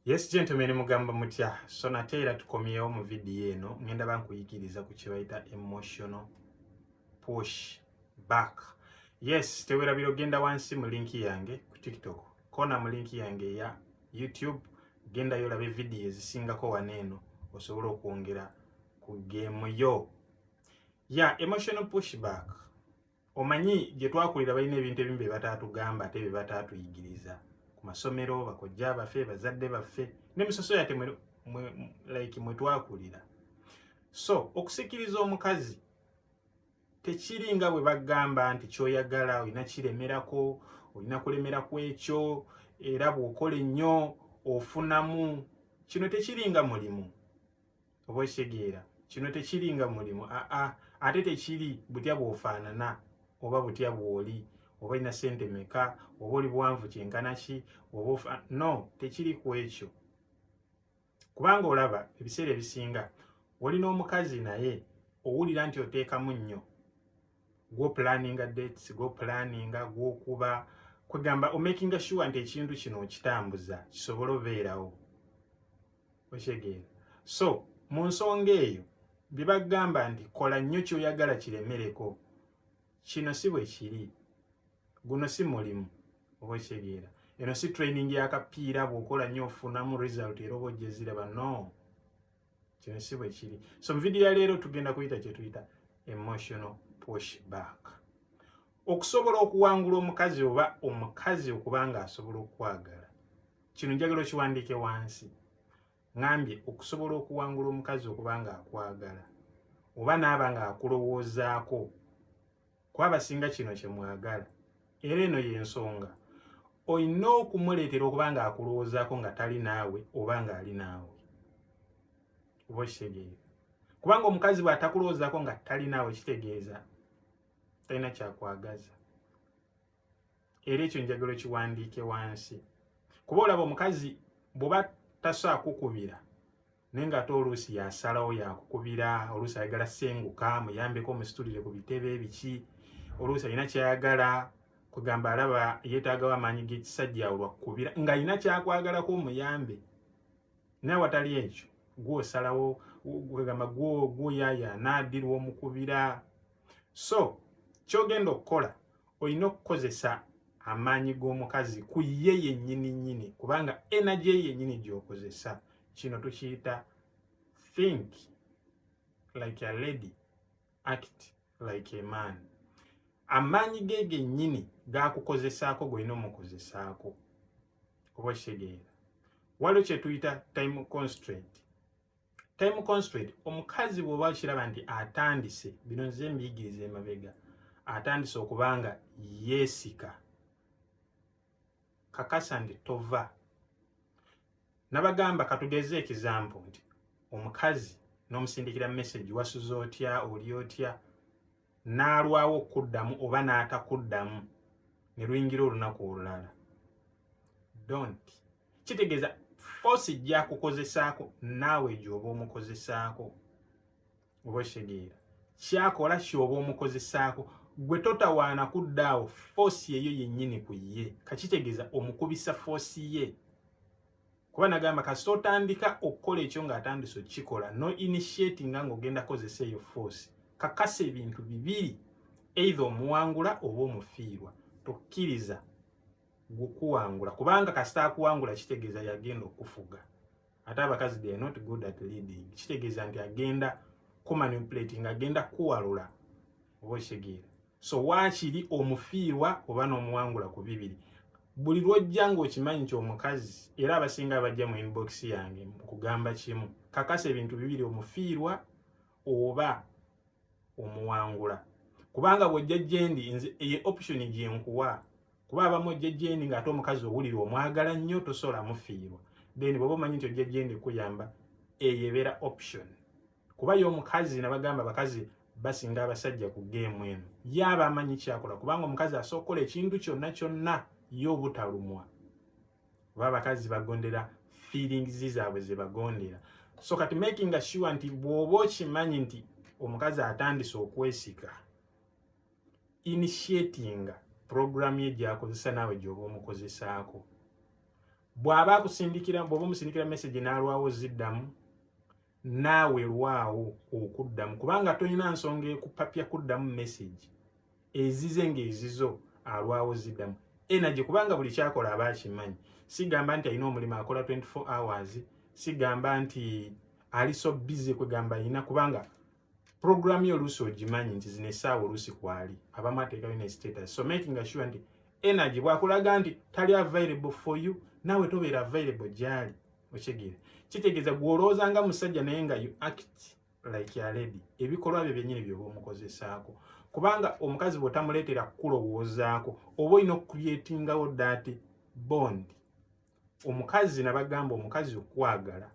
Yes gentlemen mugamba mutya so nate era tukomyewo mu vidiyo eno ngenda bankuyigiriza ku kyebayita emotional push back yes tewerabira ogenda wansi mu linki yange ku tiktok kona mu linki yange eya youtube gendayo olabe vidiyo ezisingako wano eno osobola okwongera ku geemu yo ya yeah, emotional pushback omanyi gye twakulira balina ebintu ebimu bye bataatugamba ate bye bataatuyigiriza ku masomero bakojja baffe bazadde baffe ne musoso yate like mwe twakulira so okusikiriza omukazi tekiri nga bwe bagamba nti kyoyagala olina kiremerako olina kulemera ku ekyo era bw'okola ennyo ofunamu kino tekiri nga mulimu oba okitegeera kino tekiri nga mulimu aa ate tekiri butya bwofaanana oba butya bwoli oba olina sente meka oba oli buwanvu kyenkana ki oba no tekiri ku ekyo kubanga olaba ebiseera ebisinga oli n'omukazi naye owulira nti oteekamu nnyo gwopulaninga dates gwopulaninga gwokuba kwegamba omakinga sure nti ekintu kino okitambuza kisobole obeerawo okitegeera so mu nsonga eyo bye bagamba nti kola nnyo kyoyagala kiremereko kino si bwe kiri guno si mulimu oba okitegeera eno si training yakapiira bwokola nnyo ofunamu result era oba ojeziraba no kino si bwe kiri so mu vidiyo ya leero tugenda kuyita kyetuyita emotional push back okusobola okuwangula omukazi oba omukazi okuba nga asobola okukwagala kino njagala okiwandiike wansi ngambye okusobola okuwangula omukazi okuba nga akwagala oba naaba nga akulowoozaako kwabasinga kino kyemwagala era eno yensonga olina okumuleetera okuba nga akulowoozaako nga tali naawe oba nga ali naawe oba okitegeera kubanga omukazi bwatakulowoozaako nga tali naawe kitegeeza talina kyakwagaza era ekyo njagala okiwandiike wansi kuba olaba omukazi bw'oba tasaakukubira naye ng'ate oluusi yasalawo yakukubira oluusi ayagala senguka muyambeko omusitulire ku bitebe biki oluusi alina kyayagala kwegamba alaba yeetaagawo amaanyi g'ekisajja awo lwakukubira ng'alina kyakwagalako omuyambe naye watali ekyo gwosalawo kwegamba gwoyayaana addirwa omukubira so kyogenda okukola olina okukozesa amaanyi g'omukazi ku ye yennyini nnyini kubanga energy yennyini gy'okozesa kino tukiyita think like a lady act like a man amaanyi ge gennyini gakukozesaako golina omukozesaako oba okitegeera waliwo kyetuyita time constraint time constraint omukazi bwoba okiraba nti atandise bino nze mbiyigiriza emabega atandise okuba nga yeesika kakasa nti tova nabagamba katugeze ekizampo nti omukazi n'omusindikira message wasuze otya oli otya n'alwawo okukuddamu oba n'atakuddamu ne luyingira olunaku olulala don't kitegeeza force ejja kukozesaako naawe gyoba omukozesaako oba okitegeera kyakola kyoba omukozesaako gwe totawaana kudda awo force yeyo yennyini ku ye kakitegeeza omukubisa force ye kuba nagamba kasita otandika okukola ekyo ng'atandise okukikola no initiating nga ng'ogenda kozesa eyo force kakasa ebintu bibiri eitha omuwangula oba omufiirwa tokkiriza gukuwangula kubanga kasita akuwangula kitegeeza yagenda okufuga ate abakazi they not good at leading kitegeeza nti agenda kumanipulating agenda kuwalula oba okitegeera so waakiri omufiirwa oba n'omuwangula ku bibiri buli lwojja ng'okimanyi nti omukazi era abasinga abajja mu inbox yange mukugamba kimu kakasa ebintu bibiri omufiirwa oba omuwangula kubanga bwojja gyendi eye option gyenkuwa kuba abamu ojja gyendi ng'ate omukazi owulira omwagala nnyo tosobola mufiirwa then bwoba omanyi nti ojja gyendi kuyamba eyo ebeera option kuba ye omukazi nabagamba abakazi basinga abasajja ku geemu eno ye aba amanyi kyakola kubanga omukazi asookola ekintu kyonna kyonna ye obutalumwa oba abakazi bagondera feelings zaabwe zebagondera so kati making sure nti bw'oba okimanyi nti omukazi atandise okwesika initiatinga program ye gyakozesa naawe gyoba omukozesaako bw'aba akusindikira bw'oba omusindikira message n'alwawo ziddamu naawe lwawo okuddamu kubanga tolina nsonga ekupapya kuddamu message ezize ng'ezizo alwawo ziddamu energy kubanga buli kyakola aba akimanyi sigamba nti alina omulimu akola 24 hours sigamba nti ali so busy kwegamba alina kubanga program yo oluusi ogimanyi nti zino essaawa oluusi kwali abamu ateekayo ne status so making sure nti energy bwakulaga nti tali available for you naawe tobeera available gyali okitegeera kitegeeza gwolowooza nga musajja naye nga you act like a lady ebikolwa byo byenyini byoba omukozesaako kubanga omukazi bwotamuleetera kukulowoozaako oba olina okukubyetingawo dat bond omukazi nabagamba omukazi okwagala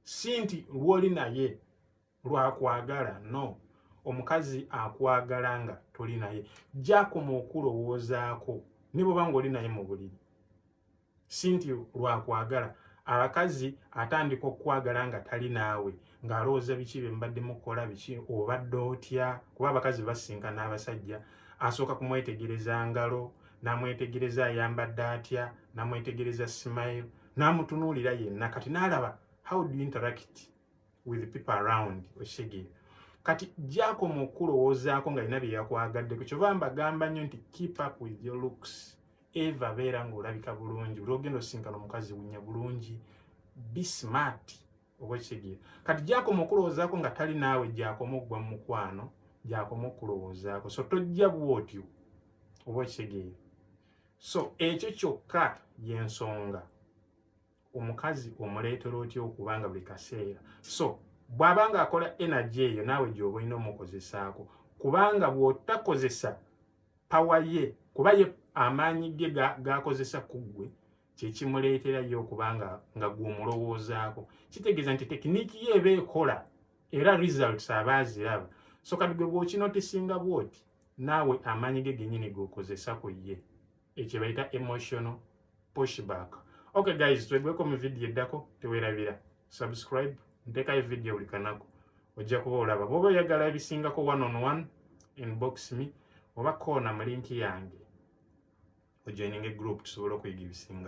si nti lwoli naye lwakwagala no omukazi akwagala nga toli naye jakoma okulowoozaako ne bwoba nga oli naye mu buliri si nti lwakwagala abakazi atandika okukwagala nga tali naawe ng'alowooza biki bye mbadde mukola biki obadde otya kuba abakazi basinka n'abasajja asooka kumwetegereza ngalo namwetegereza ayambadde atya namwetegereza smile namutunuulira yenna kati naalaba how do you interact with people around oshege kati gyakoma okukulowoozaako nga lina bye yakwagadde ku kyoba mbagamba nnyo nti keep up with your looks eva beera ng'olabika bulungi oli ogenda osinkana omukazi wunya bulungi be smart oba kigye kati gyakoma okulowoozaako nga tali naawe gyakoma okugwa mu mukwano gyakoma okulowoozaako so tojja bwotyo oba okitegeera so ekyo kyokka yensonga omukazi omuleetera otya okuba nga buli kaseera so bw'aba nga akola energy eyo naawe gyoba olina omukozesaako kubanga bw'otakozesa pawa ye kuba ye amaanyi ge gaakozesa ku ggwe kyekimuleetera ye okuba nga nga gw'omulowoozaako kitegeeza nti tekiniiki ye eba ekola era results aba aziraba so kati gwe bw'okinotisinga bw'oti naawe amaanyi ge genyini g'okozesa ku ye ekye bayita emotional pushback okay guys twegweko mu video eddako tewerabira subscribe ntekayo video buli kanaku ojja kuba olaba bwoba oyagala ebisingako one on one inbox me oba koona mu linki yange ojoininga egroup tusobole okuyiga ebisinga